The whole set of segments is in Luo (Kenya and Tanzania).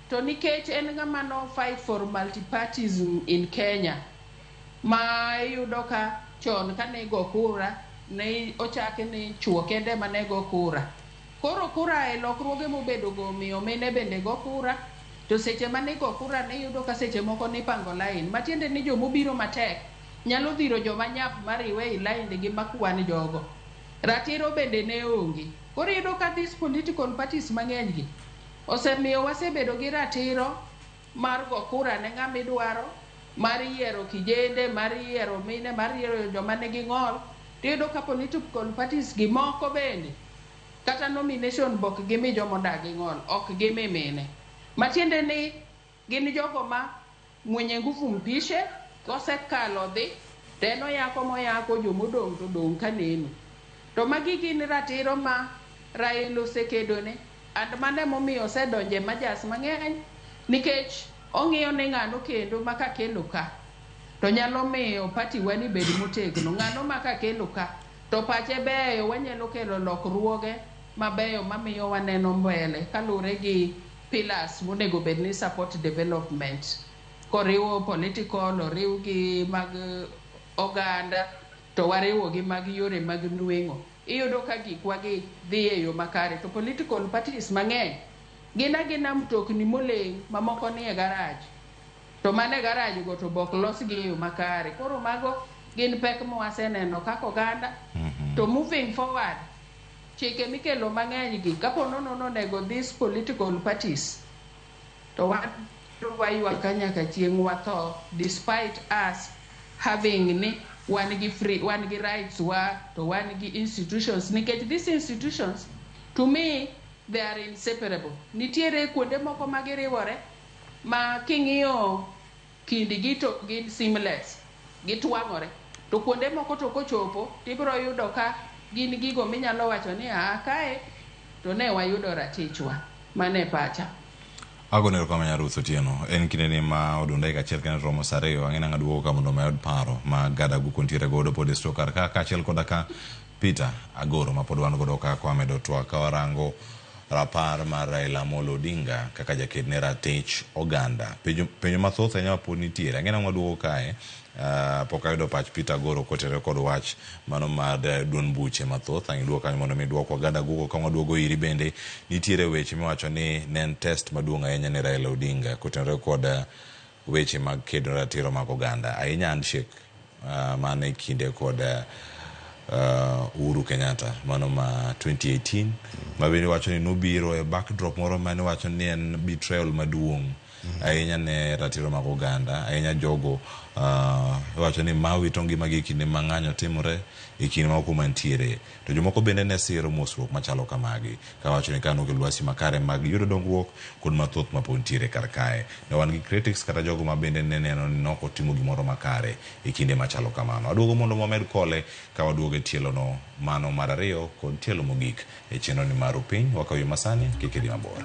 to nikech en ng'ama no fight for multipartyism in Kenya ma iyudo ka chon kane igo kura ne ochaki ni chuo kende ema ne go kura. Koro kura e lokruoge mobedo go omiyo mine bende go kura to seche mane igo kura ne iyudo ka seche moko nipango lain matiende ni joma obiro matek nyalo dhiro joma nyap mariwe ei laindgi makwan jogo. Ratiro bende ne onge. Koro iyudo ka these political parties mang'eny gi, Osemiyo wasebedo gi ratiro mar go kura ne ng'ama idwaro, mar yiero kijende, mar yiero mine, mar yiero joma nigi ng'ol. Tiyudo ka political parties gi moko bende kata nomination be ok gimi joma odagi ng'ol, ok gimi mine. Matiende ni. Gin jogo ma mwenye nguvu mpishe, kosekalo odhi, to en oyako moyako, joma odong' to odong' ka neno. To magi gin ratiro ma Rael osekedone, and mano ema omiyo osedonjo e majas mang'eny, nikech ong'iyo ni ng'ano kendo ma kakelo ka, to nyalo miyo party wa ni bed motegno. Ng'ano ma kakelo ka, to pache beyo, wanyalo kelo lokruoge mabeyo mamiyo waneno mbele kaluwore gi. pillars monego bed ni support development koriwo political oriw gi mag oganda to wariwo gi mag yore mag nweng'o iyudo ka gikwa gi dhi e yo makare to political parties mang'eny gin agina mtokni moleng mamoko ni e garaj to mane e garaj go to bok los gi e yo makare koro mago gin pek mwaseneno kaka oganda to moving forward Chike mikelo mang'eny gi kapo nono nonego this political parties to wabiro waywak ka nyaka chieng' watho despite us having ni wan gi free, wan gi rights wa to wan gi institutions nikech these institutions to me they are inseparable. Nitiere kuonde moko ma giriwore ma king'iyo kindgi to gin seamless, gitwang'ore. To kuonde moko to kochopo to ibiro yudo ka gin gigo minyalo wacho ni aa kae to ne wayudo ratichwa. Mano e pacha. Agoni erokamano Nyar Ruth Otieno. En kindeni ma odong' dakika achiel kendo romo saa ariyo, ang'e nang'a duogo ka mondo omed paro ma Gada Guko nitiere godo pod e store kar ka kaachiel koda ka Peter Agoro mapod wan godo ka kwa medo twak ka warango rapar mar Raila Amolo Odinga kaka jaked ne ratich oganda. Penjo penjo mathoth ahinya mapod nitiere. Ang'e nang'o waduogo kae. Uh, pok ayudo pach Peter Agoro kotere kod wach mano mar duond buche mathoth. Ang' iduog kanyo mondo mi duok wagada gugo ka waduogo iri bende nitiere weche miwacho ni ne en test maduong' ahinya ne Raila Odinga kotenore kod uh, weche mag kedo ratiro mag oganda, ahinya handshake man e kinde kod Uhuru Kenyatta mano ma 2018 ma bende wacho ni nobiro e backdrop moro mane wacho ni en betrayal maduong' ahinya ne ratiro mag oganda ahinya jogo wacho ni ma wito ngimagi e kinde ma ng'anyo timore e kinde ma okumantiere To jomoko bende ne siro mosruok machalo kamagi, kawacho ni kane onge lwasi makare mag yudo dongruok kod mathoth mapod nitiere kar kae, ne wan gi critics kata jogo ma bende ne neno ni nok otimo gimoro makare e kinde machalo kamano. Aduogo mondo wamed kole ka waduogo e tielono, mano mar ariyo kod tielo mogik e chenroni mar Ru Piny, wakaw yo masani, kik idhi mabor.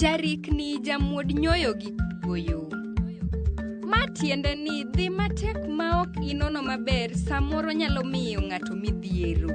Jarikni jamuod nyoyo gi kuoyo. Ma tiende ni dhi matek ma ok inono maber samoro nyalo miyo ng'ato midhiero.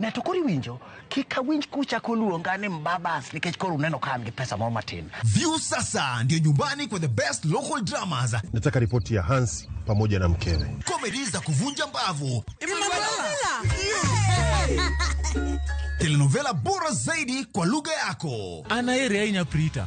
Ne to koro iwinjo, kik awinj kuchako luonga ni Mbabas nikech koro uneno ka an gi pesa moro matin. View sasa ndio nyumbani kwa the best local dramas, Nataka ripoti ya Hans pamoja na mkewe. comedy za kuvunja mbavu, telenovela bora zaidi kwa lugha yako. Anaere ahinya Prita.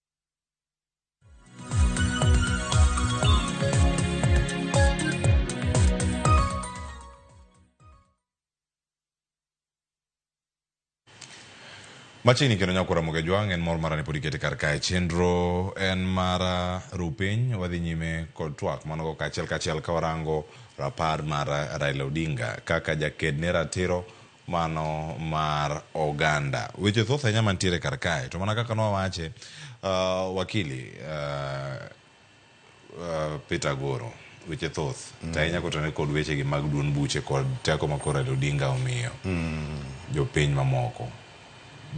Machiegni kendo nyakwara moge jwang' en mor mara ni pod ikete kar kae chenro en mara rupiny wadhi nyime kod twak manogo kaachiel kaachiel ka warango rapar mar Raila Odinga kaka jaked ne ratiro mano mar oganda. Weche thoth ahinya mantiere kar kae to mana kaka nwawache uh, wakili uh, uh, Peter Goro weche thoth mm. to ahinya kotenore kod wechegi mag duond buche kod teko ma koro Odinga omiyo mm. jopiny mamoko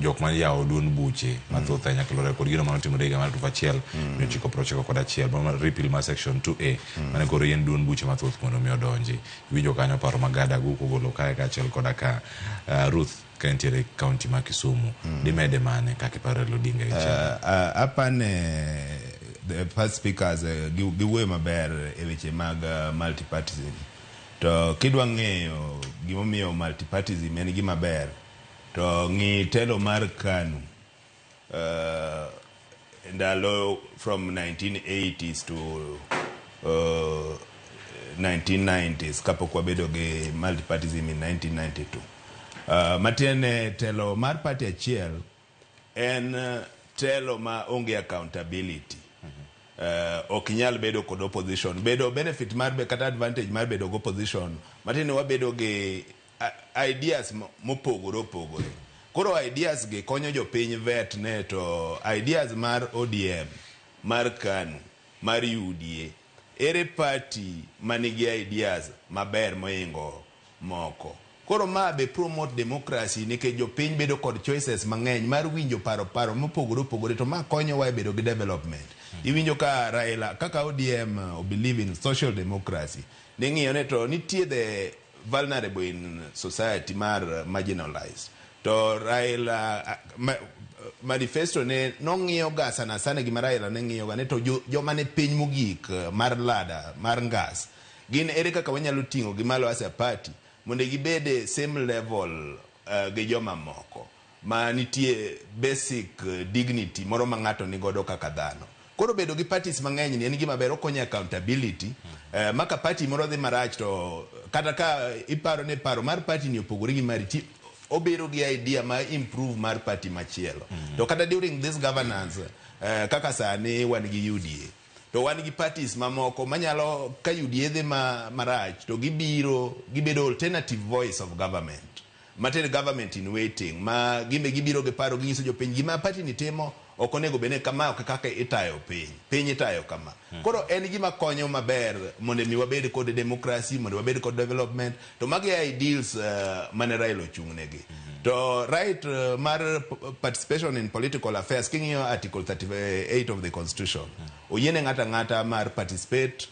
jok ma yawo duond buche mathoth ahinya kilore kod gino mane otimore higa mar alufu achiel mia ochiko prochiko kod achiel mano mar repeal mar section 2a mane koro yien duond buche mathoth mondo mi odonji iwinjo kanyo paro ma gada go kogolo kae kaachiel koda ka ah, ruth ka entiere kaunti ma kisumu dimede mane kaka iparo Raila Odinga gi chama? Uh, uh, apane the first speakers uh, gi- giwuoyo maber e weche mag uh, multipartism to kidwa ng'eyo gimomiyo multipartism en gima ber To ng'i telo mar Kanu uh, ndalo from 1980s to uh, 1990s kapok wabedo gi multipartism in 1992. Uh, matiende telo mar party achiel en uh, telo ma onge accountability. Uh, ok inyal bedo kod opposition bedo benefit mar be- kata advantage mar bedo gi opposition matiende wabedo gi ideas mopogore opogore. Koro ideas gi konyo jopiny vet ne to ideas mar ODM, mar Kanu, mar UDA, ere party manigi ideas maber mohingo moko. Koro ma be promote democracy nikech jopiny bedo kod choices mang'eny mar winjo paro paro mopogore opogore to ma konyowa e bedo gi development. Iwinjo ka Raila kaka ODM o believe in social democracy. Ning'iyo ne to nitie the vulnerable in society mar marginalized to Raila ma, manifesto ne nong'iyo ga sana sana gima Raila ne ng'iyo ga ne to jo- joma ne piny mogik eh, mar lada mar ngas gin ere kaka wanyalo ting'o gi malo as a party mondo gibede same level eh, gi joma moko ma nitie basic dignity moro ma ng'ato ni godo kaka dhano. Koro bedo gi parties mang'eny ni en gima ber okonyo e accountability eh, ma ka party moro dhi marach to kata ka iparo ni paro mar party ni opogore gi mari ti obiro gi idea ma improve mar party machielo. To kata during this governance eh, kaka sani wan gi UDA to wan gi parties mamoko manyalo ka UDA dhi ma, marach to gibiro gibedo alternative voice of government. Matiende government in waiting ma gimbe gibiro gi paro ginyiso jopiny gima party ni timo ok onego bed ni kama ok kaka itayo piny. Piny itayo kama. Koro en gima konyo maber mondo mi wabed kod democracy, mondo wabed kod development to magi e ideals mane Raila ochung' negi. To right mar participation in political affairs king'iyo article 38 of the constitution oyiene ng'ato ang'ata mar participate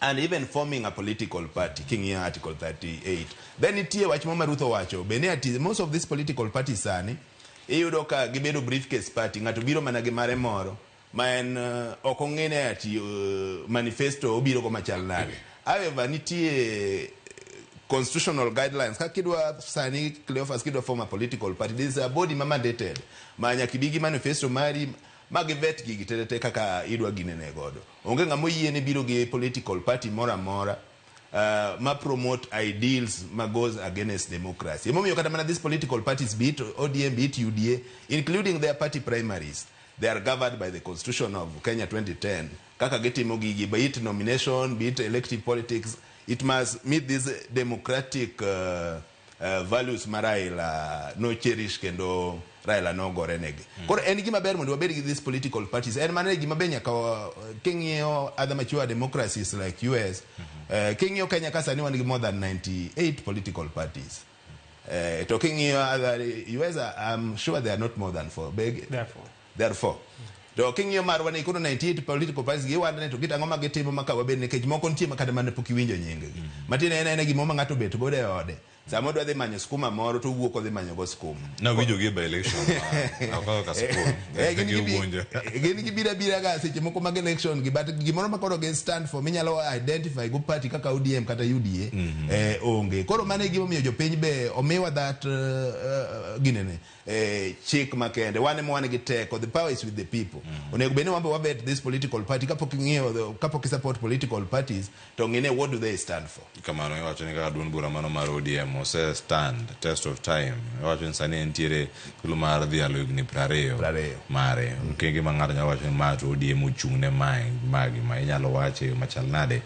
and even forming a political party king'iyo article 38 then nitie wach mama ruth owacho bende ati most of these political parties sani iyudo ka gibedo briefcase party ng'ato biro mana gi mare moro ma en uh, ok ong'ene ati uh, manifesto obiro go machal nade however nitie constitutional guidelines ka kidwa sani cleofas kidwa form a political party there is a body ma mandated ma nyaka ibi gi manifesto mari ma givet gigi tetete kaka idwa ginene godo Onge ng'ama oyiene biro gi political party moro amora uh, ma promote ideals ma goes against democracy. Emomiyo kata mana these political parties be it ODM, be it UDA, including their party primaries, they are governed by the constitution of Kenya 2010. Kaka gitimo gigi, be it nomination, be it elective politics, it must meet these democratic uh, uh, values ma Raila no cherish kendo Raila no gore negi. Mm. Koro en gima ber mondo wabed gi these political parties. En mana gima be nyaka uh, king'iyo other mature democracies like US. Mm -hmm. uh, king'iyo Kenya ka sani wan gi more than 98 political parties. Uh, talking here, uh, US, I'm sure they are not more than four. Big, Therefore. Therefore. To king'iyo marwa ni kuno 98 political parties giwanda ni to kit ang'o ma gitimo ma ka wabed nikech moko nitie ma kata mana pok iwinjo nyinggi. Mm. Matiende en aena gimoro ma ng'ato obet godo e ode. Sama odwa dhi manyo skuma moro to owuok odhi manyo go skuma. Na winjo gi by election. Akawo ka skuma. Eh gin giwinjo. Gin gibira bira ga seche moko mag election gi but gimoro ma koro gi stand for minyalo identify go party kaka ODM kata UDA mm -hmm. eh onge. Koro mane gimomiyo jopiny be omiwa that uh, uh, ginene. eh, chik makende wan ema wan gi teko the power is with the people mm. onego bed ni wambe wabet this political party kapok ing'iyo kapok isupport political parties to ng'ine what do they stand for kamano iwacho ni kaka duond bura mano mar odm ose stand test of time iwacho ni sani entiere thuolo mar dhi alo higni prariyo mare mm. kenge ma ng'ato nyalo wacho ni ma to odm ochung' ne mae magi ma inyalo wache machal nade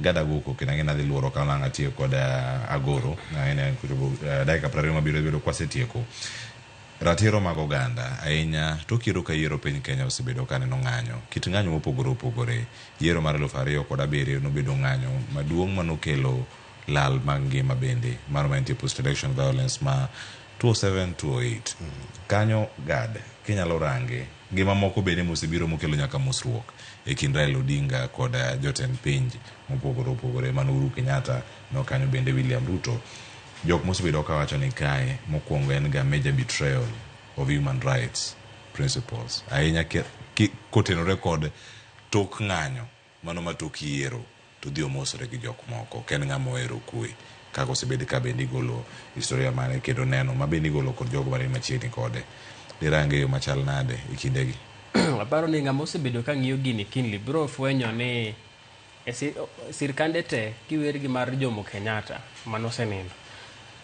Gada Guku kendo ang'e nadhi luoro ka nang' atiyo kod uh, Agoro ang'e kuchopo uh, dakika prariyo mabiro bedo kwasetieko ratiro mag oganda ahinya to kiero ka yiero piny Kenya osebedo ka neno ng'anyo kit ng'anyo mopogore opogore yiero mar eluf ariyo kod abiriyo nobedo ng'anyo maduong' manokelo lal mag ngima bende mano mantie post election violence ma 207 208 kanyo gad kinyalo range gi mamoko bende mosebiro mokelo nyaka mosruok e kind Raila Odinga kod jotend pinj mopogore opogore mano Uhuru Kenyatta no kanyo bende William Ruto jok mosebedo ka wacho ni kae mokwongo en ga major betrayal of human rights principles ahinya kotenore kod tok ng'anyo Mano ma tok yiero to odhi omosore gi jok moko. Ok en ng'ama ohero kwe. Kaka osebed ka bende igolo historia mare kendo neno ma bende igolo kod jogo mani machiegni kode. Dirange e yo machal nade e kindegi? Aparo ni ng'ama osebedo ka ng'iyo gini kindly biro fwenyo ni e sirkande te kiwer gi mar Jomo Kenyatta mane osenindo,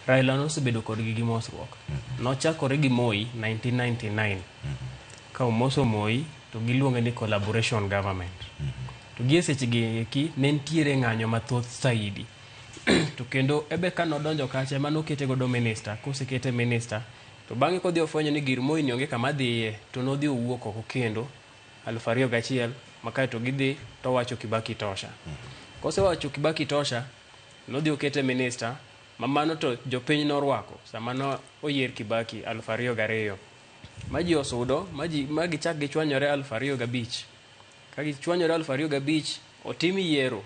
Raila nosebedo kodgi gi mosruok. Nochakore gi Moi 1999. Ka omoso Moi to giluonge ni collaboration government. To gie sechegi eki ne nitiere ng'anyo mathoth saidi. to kendo ebe ka nodonjo kacha ema nokete godo minister, kosekete minister to bang'e kodhi ofwenyo ni gir Moi ni onge kama dhiye to nodhi owuok oko kendo aluf ariyo gachiel ma kae to gidhi to owacho Kibaki tosha. Kosewacho Kibaki tosha, nodhi okete minister ma mano to jopiny norwako sama no oyier Kibaki aluf ariyo gariyo. ma ji osudo ma ji ma gichak gichwanyore aluf ariyo gabich ka gichwanyore aluf ariyo gabich otim yiero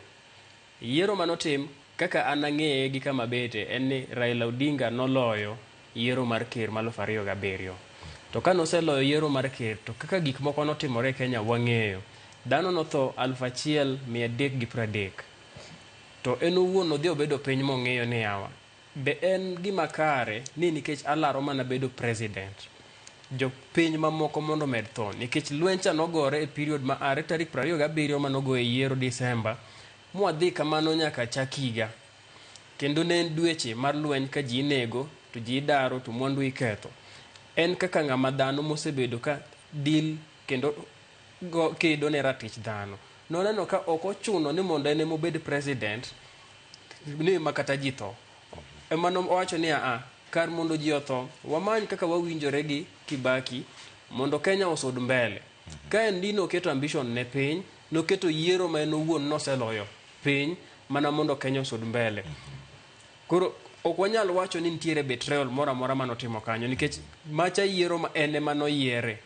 yiero manotim kaka an ang'eye gi kama bete en ni Raila Odinga noloyo yiero mar ker ma aluf ariyo gabiriyo to ka noseloyo yiero mar ker to kaka gik moko notimore e Kenya wang'eyo dhano notho aluf achiel mia adek gi pradek to en owuon nodhi obedo piny mong'iyo ni yawa Be en gima kare ni nikech alaro mana bedo president, jo piny mamoko mondo omed tho? Nikech lweny cha nogore e period ma are tarik prariyo gabiriyo mane ogoye yiero December mwadhi kamano nyaka chak higa. Kendo ne en dweche mar lweny ka ji inego, to ji idaro, to mwandu iketho. En kaka ng'ama dhano mosebedo ka deal kendo go kedo ne ratich dhano. Noneno ka ok ochuno ni mondo en ema obed president, ni ma kata ji tho. Ema nowacho ni aa, kar mondo ji otho, wamany kaka wawinjore gi Kibaki mondo Kenya osud mbele. Ka en Dino oketo ambition ne piny, noketo yiero ma en owuon noseloyo piny mana mondo Kenya osud mbele. Koro ok wanyal wacho ni nitiere betrayal moro amora mane otimo kanyo nikech macha yiero ma en ema noyiere.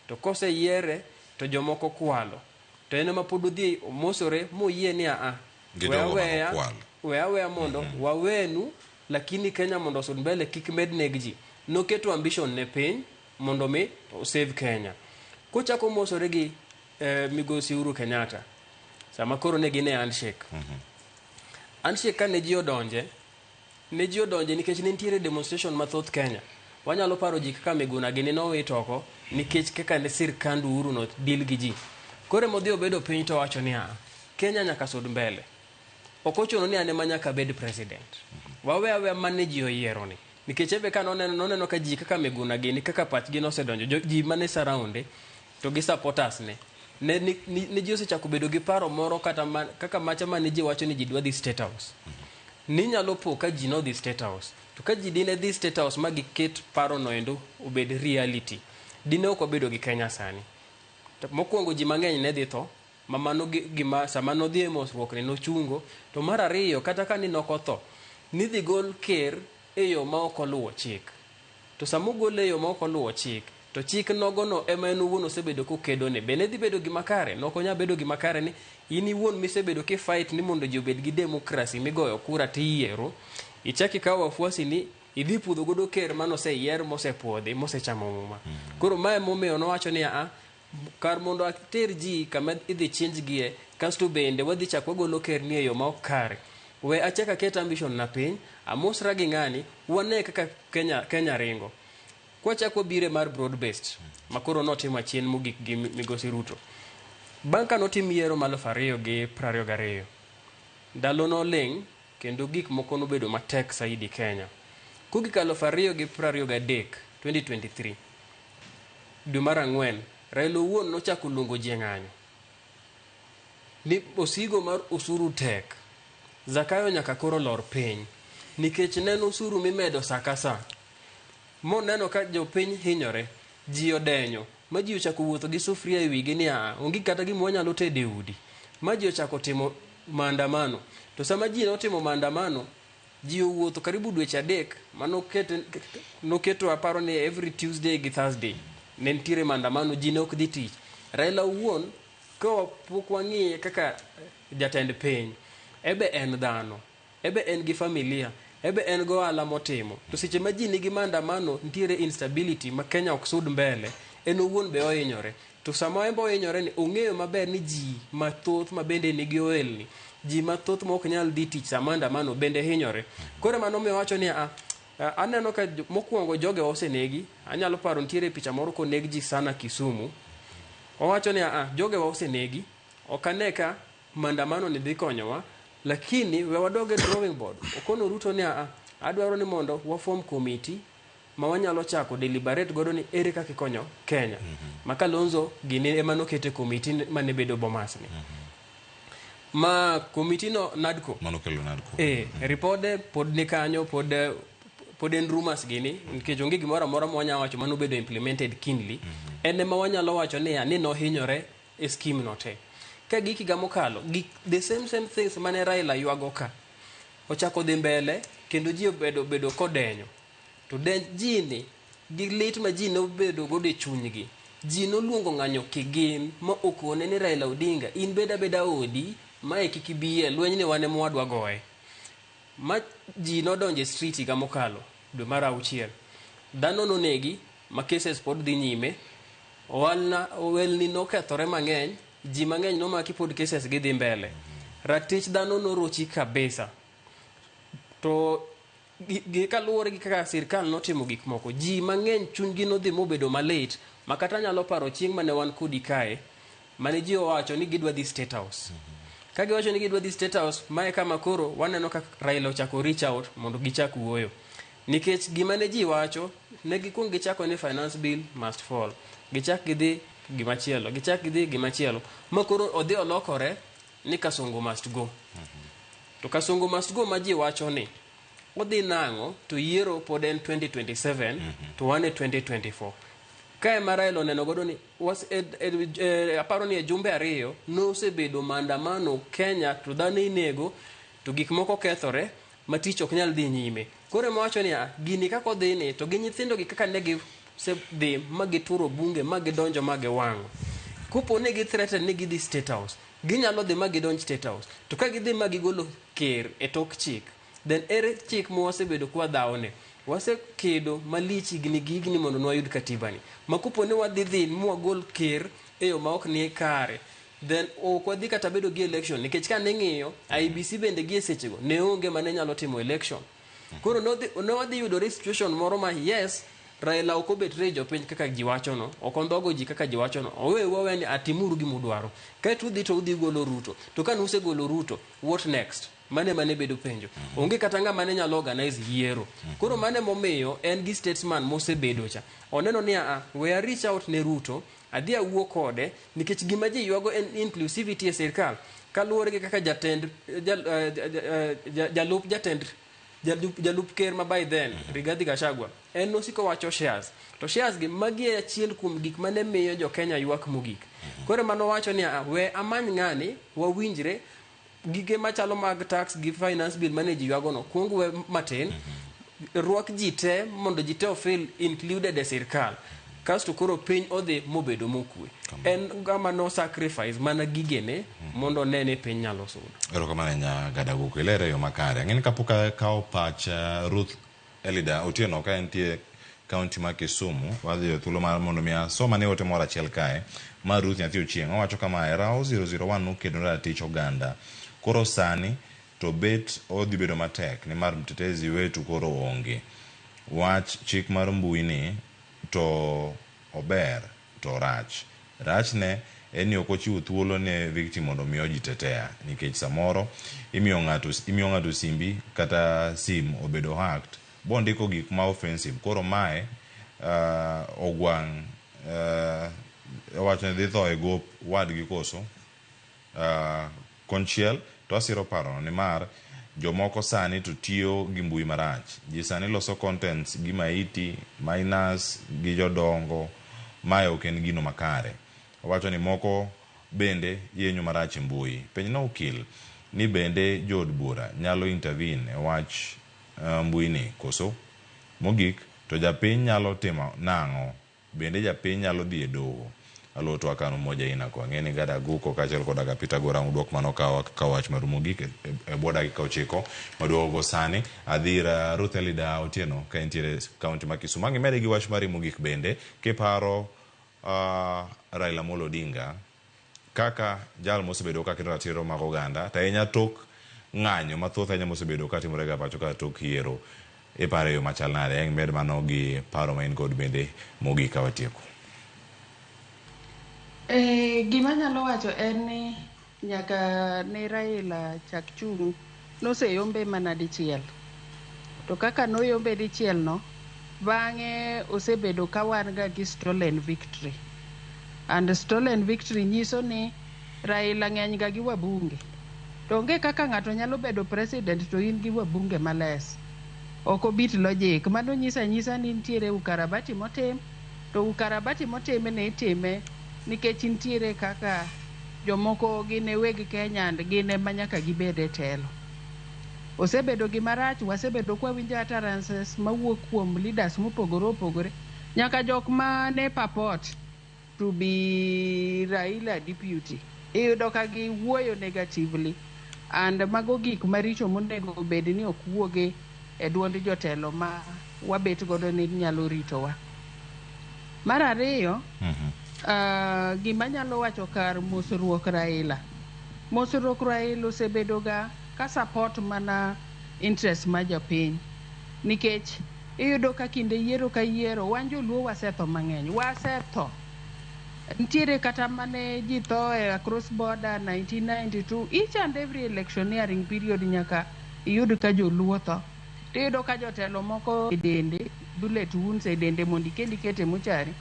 To koseyiere to jomoko kwalo. To en ema pod odhi omosore moyie ni aa, We Gidogo mano aweya, kwal. we aweya mondo wawenu lakini Kenya mondo osud mbele kik med neg ji. Noketo ambition ne piny mondo mi osave Kenya. Kochako mosore gi eh, migosi Uhuru Kenyatta sama koro ne gin e handshake. Handshake kane ji odonje Ne ji odonje nikech ne nitiere demonstration mathoth Kenya. Wanyalo paro ji kaka Miguna gini nowit oko nikech kaka ne sirkand Uhuru no deal gi ji. Koro ema odhi obedo piny to owacho niya, Kenya nyaka sud mbele. Ok ochuno ni an ema nyaka abed president. Wawe aweya mane ji oyiero ni. Nikech enbe ka noneno noneno ka ji kaka Miguna gini kaka pachgi nosedonjo, ji mane surround e, To gi supporters ne. Ne, ne, ne ji osechako bedo gi paro moro kata ma, kaka macha ma ne ji wacho ni ji dwa dhi State House. Ninyalo po ka ji nodhi State House. To ka ji dine dhi State House ma giket paro noendo obed reality, dine ok wabedo gi Kenya sani. Mokwongo ji mang'eny ne dhi tho, ma mano gima sama nodhi e mosruok ne nochungo. To mar ariyo, kata ka ni nokotho, nidhi gol ker e yo ma ok oluwo chik. To sama ogole e yo ma ok oluwo chik, to chik nogono ema en owuon osebedo kokedone. Be ne dhi bedo gima kare? Ne ok onyal bedo gima kare ni in iwuon misebedo ki fight ni mondo ji obed gi democracy migoyo kura to iyiero, ichak ikaw wafuasini idhi pudho godo ker mane oseyier, mosepwodhi, mosechamo muma. Koro ma ema omiyo nowacho ni aa, Kar mondo ater ji kama idhi chinjgie, kasto bende wadhi chak wagolo kerni e yo ma ok kare. We achak aket ambition na piny, amosra gi ng'ani, wane kaka Kenya, Kenya ringo. Kwachak wabiro e mar broad based, ma koro notim achien mogik gi migosi Ruto. Bang' ka notim yiero ma aluf ariyo gi prariyo gariyo, ndalo noling' kendo gik moko nobedo matek saidi Kenya. Kogik aluf ariyo gi prariyo gadek, 2023, Dwe mar ang'wen, Raila owuon nochako luongo ji e ng'anyo ni osigo mar osuru tek, Zakayo nyaka koro lor piny nikech nen osuru mimedo sa ka sa. Moneno ka jopiny hinyore, ji odenyo ma ji ochako wuotho gi sufria e wigi ni aa, onge kata gima wanyalo tedo e udi, ma ji ochako timo maandamano. To sama ji notimo maandamano, Ji owuotho karibu dweche adek ma noketo aparo ni every Tuesday gi Thursday ne nitiere maandamano, ji ne ok dhi tich. Raila owuon ka pok wang'iye kaka jatend piny, ebe en dhano, ebe en gi familia, ebe en gi ohala motimo. To seche ma ji nigi maandamano nitiere instability ma Kenya ok sud mbele, en owuon be ohinyore. To sama en be ohinyore ni ong'eyo maber ni ji mathoth ma bende nigi ohelni, ji mathoth ma ok nyal dhi tich sama andamano bende hinyore. Koro mano omiyo owacho ni a, a- aneno ka jo- mokwongo joge osenegi. Anyalo paro nitiere picha moro koneg ji sana Kisumu. Owacho ni a, jogewa osenegi. Ok ane ka mandamano ni dhi konyowa. Lakini we wadog e drawing board. Okono Ruto ni a, adwaro ni mondo wafom komiti ma wanyalo chako deliberate godo ni ere kaka ikonyo Kenya. Ma Kalonzo gini ema nokete komiti mane bedo Bomas ni. Ma komiti no NADCO. Mano kelo nadko. Eh, ripode pod ni kanyo pod eh, pod en rumors gini nikech onge gimoro amora ma wanyalo wacho mano bedo implemented kindly en ema wanyalo wacho niya ni nohinyore e scheme no te ka gik higa mokalo gik the same same things mane Raila ywago ka ochako dhi mbele kendo ji obedo bedo kodenyo To denj ji ni gi lit ma ji nobedo godo e chunygi. Ji noluongo ng'anyo kigin ma okone ni Raila Odinga in bed abeda odi mae kik ibiye lweny ni wan emwadwa goye. Ma ji nodonje street higa mokalo dwe mar auchiel. Dhano nonegi ma cases pod dhi nyime. Owalna owelni nokethore mang'eny, ji mang'eny nomaki pod cases gi dhi mbele. Ratich dhano norochi kabisa. To Gi- gi- kaluwore gi kaka sirkal notimo gik moko ji mang'eny chunygi nodhi mobedo malit ma kata anyalo paro chieng' mane wan kodi kae mane ji owacho ni gidwa dhi state house ka giwacho ni gidwa dhi state house mae kama koro waneno ka raila ochako reach out mondo gichak wuoyo nikech gima ne ji wacho ne gikwong gichako ni finance bill must fall gichak gidhi gimachielo gichak gidhi gimachielo ma koro odhi olokore ni Kasongo must go. To Kasongo must go ma ji wacho ni odhi nang'o to yiero pod en 2027 to wan e 2024. Ka ema Raila oneno godo ni was, e, e, e, aparo ni e jumbe ariyo nosebedo maandamano Kenya to dhano inego To gik moko kethore ma tich ok nyal dhi nyime. Koro ema wacho niya, gini kaka odhini to gi nyithindogi kaka ne gisedhi ma gituro bunge ma gidonjo ma giwang'o. Kopo ni githreaten ni gidhi State House, ginyalo dhi ma gidonj State House. To ka gidhi ma gigolo ker e tok chik, then ere chik ma wasebedo ka wadhawoni? Wasekedo malich higni gi higni mondo ne wayud Katibani. Ma kopo ni wadhi dhi ma wagol ker e yo ma ok ni kare, then ok wadhi kata bedo gi election nikech ka ning'iyo IBC bende gie sechego ne onge ma ne nyalo timo election koro nodhi- ne wadhi yudore situation moro ma yes Raila ok obet re jopiny kaka ji wachono ok ondhogo ji kaka ji wachono owe wawe ni atimuru gima udwaro kaeto udhi to udhi golo Ruto to kane usegolo Ruto what next mane mane bedo penjo onge kata ng'ama ne nyalo organize yiero koro mane momiyo en gi statesman mosebedo cha oneno ni a we a reach out ne Ruto Adhi awuo kode nikech gima ji ywago en inclusivity e sirkal kaluwore gi kaka jatend jal- eh, ja- ja- eh, ja- jalup jatend jalup, jalup ker ma by then Rigathi Gachagua en nosiko wacho shares to shares gi magi e achiel kuom gik mane miyo jo Kenya ywak mogik koro mano wacho ni "Ah, we amany ng'ani wawinjre gige machalo mag tax gi finance bill mane ji ywagono kuong we matin rwak ji te mondo ji te ofil included e sirkal kasto koro piny odhi mobedo mokue en gama no sacrifice mana gigene mondo one ni piny nyalo sudo Erokamano nya gadaguku ilero e yo makare. Ang'eni kapok akawo pach uh, Ruth Elida Otieno ka entie kaunti ma Kisumu. Wadhi e thuolo mar mondo mi asom ane ote moro achiel kae. Ma Ruth Nyathi Ochieng'. Owacho kama, e Raho 001 nukedo ratich oganda. Koro sani to bet odhi bedo matek nimar mtetezi wetu koro onge. Wach chik mar mbui ni to ober. To rach. Rachne en ni ok ochiwo thuolo ne victim mondo omi ojitetea nikech samoro imiyo ng'ato imiyo ng'ato simbi kata sim obedo hacked bondiko gik ma offensive koro mae uh, ogwang' uh, owacho ni dhi tho e gop wadgi koso? Konchiel to asiro parono nimar jomoko sani to tiyo gi mbui marach. Ji sani loso contents gi maiti, minors gi jodongo. Mae ok en gino makare. Owacho ni moko bende yenyo marach e mbui. Penjna okil ni bende jo od bura nyalo intervene e wach mbui ni koso? Mogik to japiny nyalo timo nang'o Bende japiny nyalo dhi e doho? Aluo twak an umoja aina ko. Ang'e ni Gad Aguko kaachiel koda ka Peter Gorang udwok mano ka wak ka wach maru mogik e, e bwo dakika ochiko maduogo go sani. Adhi ir Ruth Elida Otieno ka entiere e kaunti ma Kisumo. Ang' imede gi wach mari mogik bende kiparo, uh, Raila Amolo Odinga. Kaka jal mosebedo ka kedo ratiro mag oganda to ahinya tok ng'anyo mathoth ahinya mosebedo ka timore ga pacho ka tok yiero, iparo e yo machal nade? Aeng' med mano gi paro ma in godo bende mogik ka watieko. Gima anyalo wacho en ni nyaka ne Raila chak chung'. Noseyombe mana dichiel. To kaka noyombe dichielno, bang'e osebedo ka wan ga gi stolen victory. And stolen victory nyiso ni Raila ng'eny ga gi wabunge. To onge kaka ng'ato nyalo bedo president to in gi wabunge ma less. Ok obit logic. Mano nyiso anyisa ni nitiere ukarabati motim. To ukarabati motimi ni itime nikech nitiere kaka jomoko gin e weg Kenya and gin ema nyaka gibed e telo. Osebedo gima rach, wasebedo kwa winjo utterances mawuok kuom leaders mopogore opogore nyaka jok ma ne purport to be Raila deputy. Iyudo ka giwuoyo negatively and mago gik maricho monego bed ni ok wuoge e duond jotelo ma wabet godo ni nyalo ritowa. Mar ariyo, mhm. ah, gima nyalo wacho kar mosruok Raila. Mosruok Raila osebedoga ka support mana interest ma jopiny nikech iyudo ka kinde yiero ka yiero wan joluo wasetho mang'eny wasetho nitiere kata mane ji tho e across border 1992 each and every electioneering period nyaka iyud ka joluo tho tiyudo ka jotelo moko e dende bullet wounds e dende mondo ikel ikete muchari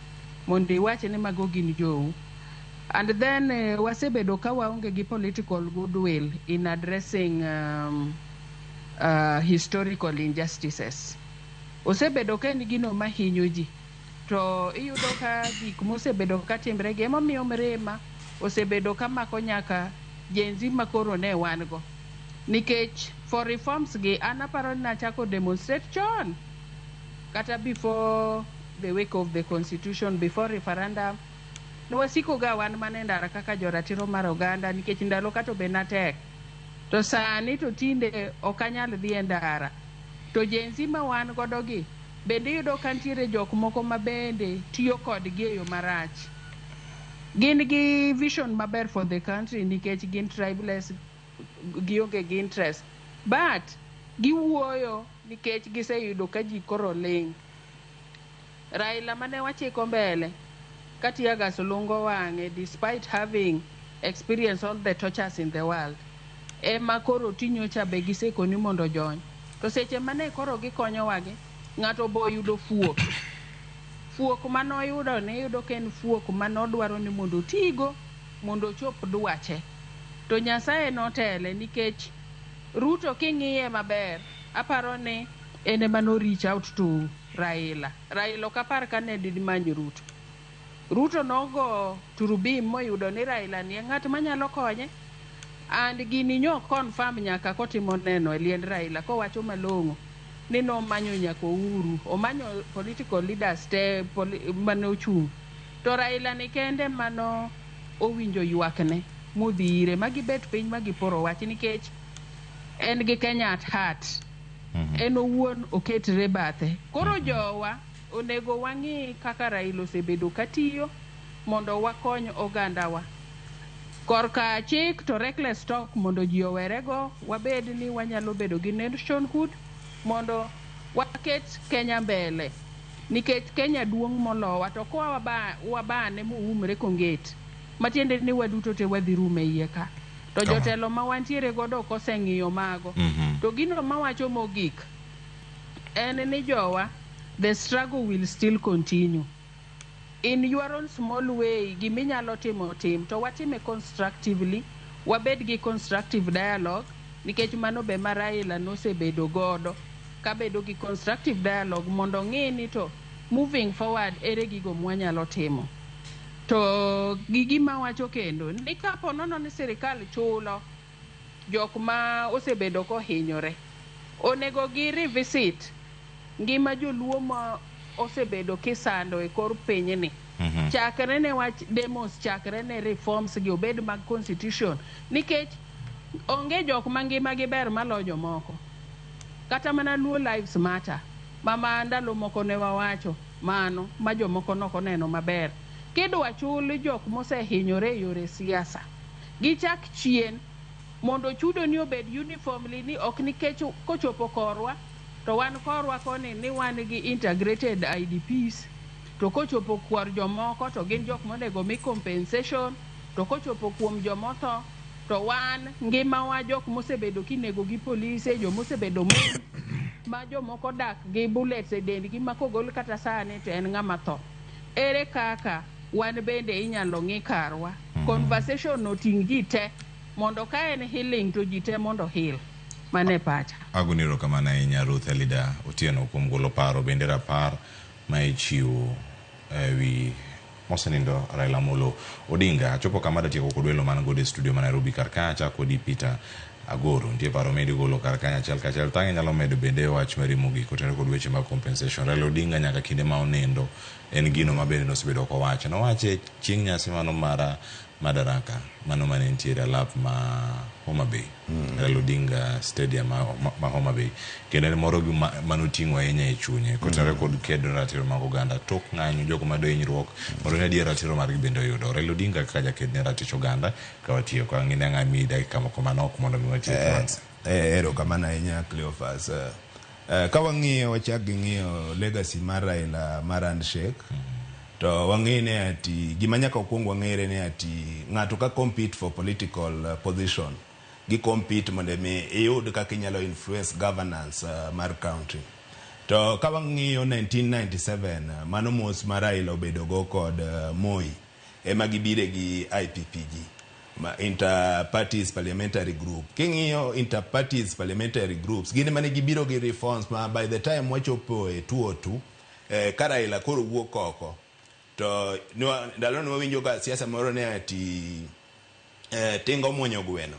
mondo iwache ni mago gin jou and then uh, wasebedo ka waonge gi political goodwill in addressing um, uh, historical injustices osebedo ka en gino mahinyo ji to iyudo ka gik mosebedo ka timre gi emomiyo mirima osebedo ka mako nyaka jenzi ma koro ne wan go nikech for reforms gi an aparo ni nachako demonstrate chon kata before the wake of the constitution before referendum nwasiko ga wan mana e ndara kaka joratiro mar oganda nikech ndalo kato be natek to sani to tinde ok anyal dhi e ndara to jenzi ma wan godo gi Bende iyudo ka nitiere jok moko ma bende tiyo kodgi e yo marach. Gin gi vision maber for the country nikech gin tribeless, gionge gi interest. But giwuoyo nikech giseyudo ka ji koro ling'. Raila mane wachiko mbele. ka tear gas lungo wang'e despite having experience all the tortures in the world ema koro ti nyocha be gisekoni mondo ojony to seche mane koro gikonyowagi ng'ato be oyudo fuok fuok mane oyudo ne iyudo ka en fuok mane odwaro ni mondo otigo mondo ochop dwache to Nyasaye notele nikech Ruto king'iye maber aparo ni en ema no reach out to Raila. Raila ok apar kane did many Ruto. Ruto nogo turubim moyudo ni Raila ni e ng'at manyalo konye. And gini nyo confirm nyaka kotimo neno e liend Raila kowacho malong'o ni nomanyo nyaka Ouru, omanyo political leaders te mane ochung'. To Raila ni kende emano owinjo ywakne modhi ire ma gibet piny ma giporo wach nikech en gi Kenya at heart. Mhm. en owuon oketre bathe. Koro jowa onego wang'i kaka Raila osebedo katiyo mondo wakony ogandawa. Korka chik to reckless talk mondo ji owerego, wabed ni wanyalo bedo gi nationhood mondo waket Kenya mbele. Nikech Kenya duong' molowa to koa waba- wabane moumre kongeti, matiende ni waduto te wadhi rum e iye ka. To Kama. jotelo ma wantiere godo ok oseng'iyo mago. Mhm. To gino mawacho mogik en ni jowa the struggle will still continue. In your own small way gima inyalo timo tim to watime constructively, wabed gi constructive dialogue nikech mano be ma Raila nosebedo godo kabedo gi constructive dialogue mondo ong'i ni to moving forward ere gigo mwanyalo timo. To gigi ma wacho kendo ni ka po nono ni sirkal chulo jok ma osebedo kohinyore, onego gi revisit ngima joluo ma osebedo kisando e kor pinyni. Mm -hmm. Chakre ne wach demos, chakre ne reforms gi obed mag constitution, nikech onge jok ma ngima gi ber malo jomoko. Kata mana Luo Lives Matter, mama ndalo moko ne wawacho mano ma jomoko ne ok oneno maber. Kidwa chul jok mosehinyore e yore siasa, gichak chien mondo chudoni obed uniformly ni ok nikech kochopo korwa to wan korwa koni ni wan gi integrated IDPs to kochopo kor jomoko to gin jok monego mi compensation. To kochopo kuom joma otho, to wan ngimawa jok mosebedo kinego gi polise, joma osebedo mon, ma jomoko dak gi bullets e dendgi ma kogol kata sani to en ng'ama tho. Ere kaka wan bende inyalo ng'i karwa? Mhm. Conversation no ting' ji te mondo ka en healing to ji te mondo heal. Mano e pacha. Agoni erokamano ahinya Ruth Elida Otieno kuom golo paro bende rapar ma ichiwo e wi mosenindo Raila Amolo Odinga. Achopo kama datieko kod welo man godo e studio ma Nairobi kar ka achak kodi Peter Agoro. Nitie paro midi golo kar kanyo achiel kachiel. Tang' inyalo medo bende e wach mari mogik kotenore kod weche mag compensation. Raila Odinga nyaka kinde ma onindo en gino ma bende nosebedo kowacho. Nowache chieng' nyasi mano mar Madaraka mano mane nitiere alap ma Homa Bay. Raila Odinga Stadium ma, ma, ma Homa Bay kendo en moro gi ma- mane oting'o ahinya e chunye kotenore kod kedo ne ratiro mag oganda tok ng'anyo jogo ma dohinyruok mondo ne adier ratiro margi bende oyudo Raila Odinga kaka jaked ne ratich oganda ka watiyo ka ng'ine ang'a mi dakika moko manok mondo mi watiek eh, eh, erokamano ahinya Cleophas eh, Eh, ka wang'iyo wachak gi ng'iyo legacy mar Raila mar handshake to wang'eyo ni ati gima nyaka okwong wang'ere ni ati ng'ato ka compete for political eh, position gi compete mondo mi iyud kaka inyalo influence governance eh, mar county to ka wang'iyo 1997 mano mos ma Raila obedogo kod eh, Moi ema gibire gi IPPG Ma Inter-parties parliamentary group. King'iyo inter-parties parliamentary groups, gin mane gibiro gi reforms ma by the time wachopo e 2002, eh, ka Raila koro wuok oko, to nwa, ndalo ne wawinjo ka siasa moro ne ati eh, tinga omwonyo gweno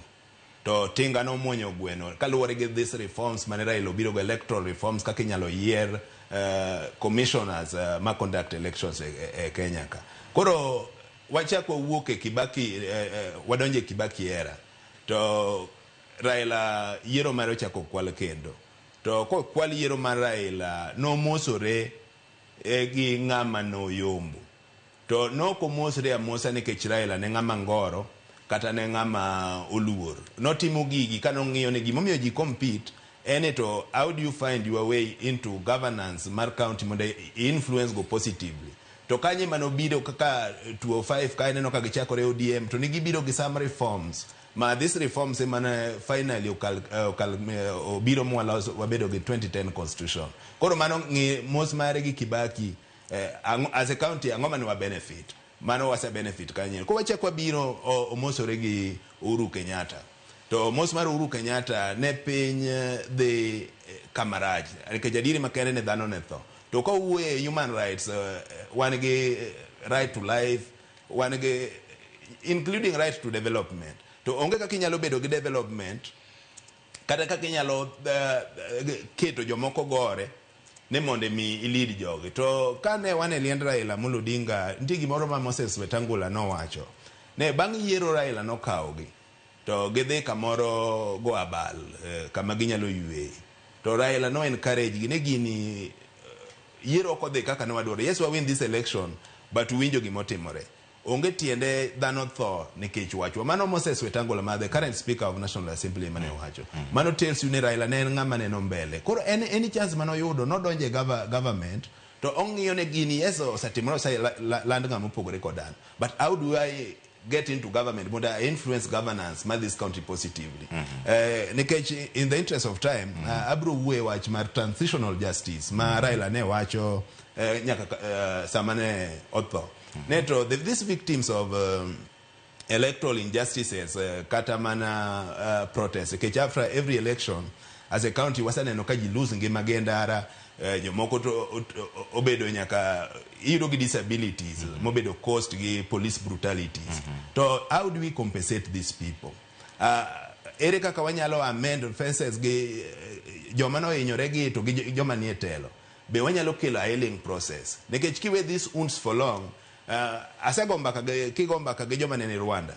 to tinga nomwonyo gweno kaluwore gi this reforms mane Raila obiro go electoral reforms kaka inyalo yier uh, commissioners uh, ma conduct elections e, e, e Kenya ka koro Wachak wawuok e Kibaki wadonj e Kibaki era to Raila yiero mare ochak okwal kendo to kokwal yiero mar Raila nomosore gi ng'ama noyombo to nok omosre amosa nikech Raila ne ng'ama ngoro kata ne ng'ama oluor notimo gigi kane ong'iyo ni gimomiyo ji compete ene to how do you find your way into governance mar county mondo i influence go positively To kanye ema nobiro kaka 205 kae ineno ka gichakore ODM to ne gibiro gi some reforms ma this reforms ema ne finally okal, eh, okal, eh, obiro mwalos wabedo gi 2010 constitution. Koro mano ng'i mos mare gi Kibaki eh, ang'o- as a county ang'o mane wa benefit? Mano wase benefit kanye. Koro wachak wabiro o- omosore gi Uhuru Kenyatta. To mos mar Uhuru Kenyatta ne piny dhi kama rach nikech adieri makende ni dhano ne tho. To ka wawuoyo e human rights, wan gi right to life, wan gi including right to development. To onge kaka inyalo bedo gi development kata kaka inyalo keto jomoko gore ni mondo imi i lead jogi. To kane wan e liend Raila Amolo Odinga, nitie gimoro ma Moses Wetangula nowacho. Ne bang' yiero Raila nokawogi. To gidhi kamoro go abal kama ginyalo yueye. To Raila no encourage gi ni gini yiero ok odhi kaka ne wadwaro. Yes wa win this election but uwinjo gima otimore. Onge tiende dhano tho nikech wachwa. Mano Moses Wetangula ma the current speaker of National Assembly ema ne owacho. Mano tells you ni Raila ne en ng'ama neno mbele. Koro en any chance mane oyudo nodonjo e government to ong'iyo ni gini yes osetimore oseland ng'ama opogore koda an but how do I get into government mondo I influence governance ma this county positively mm -hmm. uh, nikech in the interest of time mm -hmm. uh, abro wuoye wach mar transitional justice ma mm -hmm. Raila ne wacho uh, nyaka uh, sama ne otho mm -hmm. ne to the, these victims of um, electoral injustices uh, kata mana uh, protest nikech after every election as a county wasaneno ka ji lose ngima gi e ndara Eh, jomoko to obedo nyaka iyudo gi disabilities mm -hmm. mobedo cost gi police brutalities mm -hmm. to how do we compensate these people uh, ere kaka wanyalo amend fences gi eh, joma nohinyore gi to gi joma nie telo be wanyalo kelo a healing process nikech kiwe these wounds for long uh, asegomba kage kigomba kage joma nene Rwanda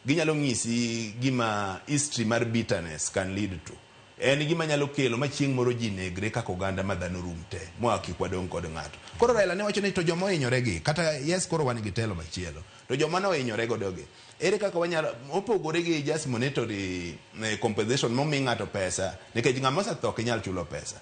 Ginyalo ng'isi gima history mar bitterness can lead to. En gima nyalo kelo ma chieng' moro ji negre kaka oganda ma dhano rum te ma wa kik wadong' kod ng'ato. Koro Raila ne wacho ni to joma ohinyore gi kata yes koro wan gi telo machielo to joma ne ohinyore godo gi ere kaka wanyalo mopogore gi just monetary compensation momi ng'ato pesa nikech ng'ama osetho ok inyal chulo pesa.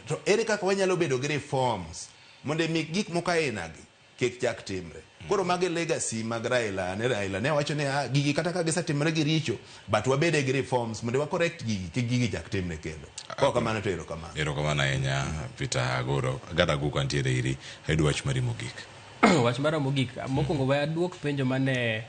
To ere kaka wanyalo bedo gi reforms mondo mi gik moko aina gi. kik chak timre. Koro mago e legacy mag Raila and Raila ne wacho ni ah, gigi kata ka gisetimre gi richo but wabede gi reforms mondo wa correct gigi kik gigi chak timre kendo. Kok kamano to erokamano. Erokamano ahinya Peter Agoro. Agada Aguko antiere iri. Ayudo wach mari mogik. Wach mara mogik, mokwongo we aduok penjo mane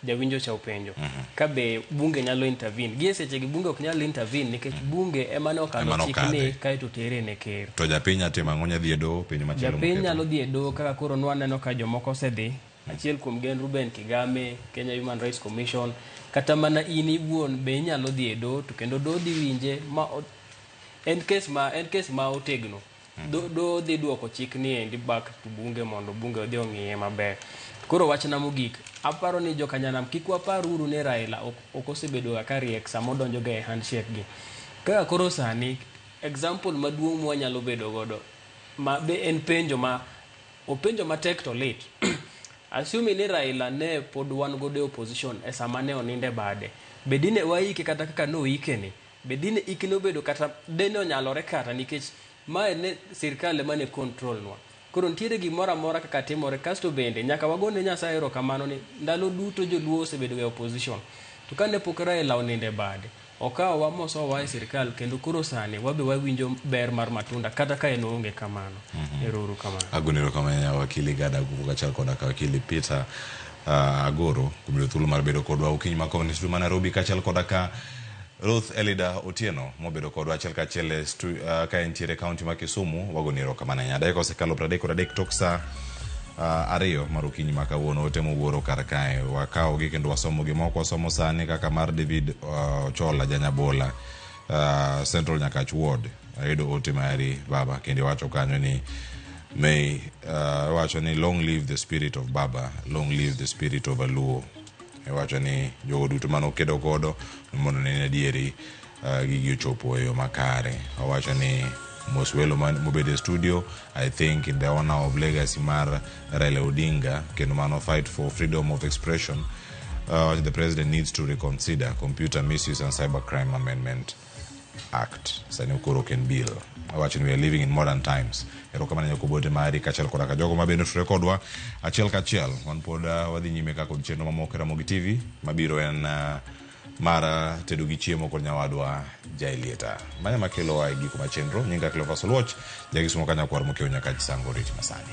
Jawinjo cha openjo ka be bunge nyalo intervene. Gie sechegi bunge ok nyal intervene nikech bunge ema nokalo Ema chik nokadhe. ni kaeto tere ne ker. To japiny nya timo ang'o? Nya dhi e doho penjo machielo Japiny moketo. nyalo dhi e doho kaka koro nwaneno ka jomoko osedhi. Achiel kuom gi en Ruben Kigame, Kenya Human Rights Commission. Kata mana in iwuon be inyalo dhi e doho to kendo doho dhi winje ma o- en kes ma en kes ma otegno. do, do dhi duoko chik ni endi back to bunge mondo bunge odhi ong'iye maber koro wachna mogik aparo ni jokanyanam kik wapar uru ni raila ok, ok osebedoga ka riek sama odonjoga e handshake gi kaka koro sani example maduong' mwanyalo bedo godo ma be en penjo ma openjo matek to lit asumi ni raila ne pod wan godo e opposition e sama ne oninde bade be dine waike kata kaka noikeni Be dine ike nobedo kata dine onyalore kata nikech mae ne sirkal ema ne control nwa. Koro nitiere gimoro amora kaka timore kasto bende nyaka wagone Nyasaye erokamano ni ndalo duto joluo osebedo ga e opposition to kane pok Raila onindo e bade okawowa mosowa e sirkal kendo koro sani wabe wawinjo ber mar matunda kata ka en oonge kamano. Ero uru kamano. Agoni erokamano ahinya wakili Gad Aguvo kachiel koda ka wakili Peter ah, Agoro kuom yudo thuolo mar bedo kodwa okinyi ma kawuono e studio ma Nairobi kachiel koda ka Ruth Elida Otieno mobedo kodwa achiel ka achiel e stu- ah, ka entiere e kaunti ma Kisumu wagoni erokamano ahinya. Dakika osekalo piero adek kod adek tok saa ah, ariyo mar okinyi ma kawuono ote mowuoro kar kae wakawogi kendo wasomogi moko wasomo sani kaka mar David ah, Ochola Janyabola ah, Central Nyakach Ward ayudo ote mari baba kendo iwacho kanyo ni may uh, wacho ni long live the spirit of baba long live the spirit of aluo Iwacho ni jogo duto mane okedo godo ni mondo ne en adieri ah, gigi ochopo e yo makare. Owacho ni mos welo man- mobedo e studio I think in the honor of legacy mar Raila Odinga kendo mano fight for freedom of expression uh, the president needs to reconsider computer misuse and cybercrime amendment. act sani koro ok en bill awacho ni we are living in modern times erokamano nyako bote mari kachiel koda ka jogo mabende otudore kodwa achiel kachiel wan pod uh, wadhi nyime kaka kod chenro mamoko e ramogi tv mabiro en uh, mar uh, tedo gi chiemo kod nyawadwa jaelieta manya makelowa e giko ma chenro nyinga cleofas oluoch jagisumo kanyakwar mokewo nyaka chisango riti masani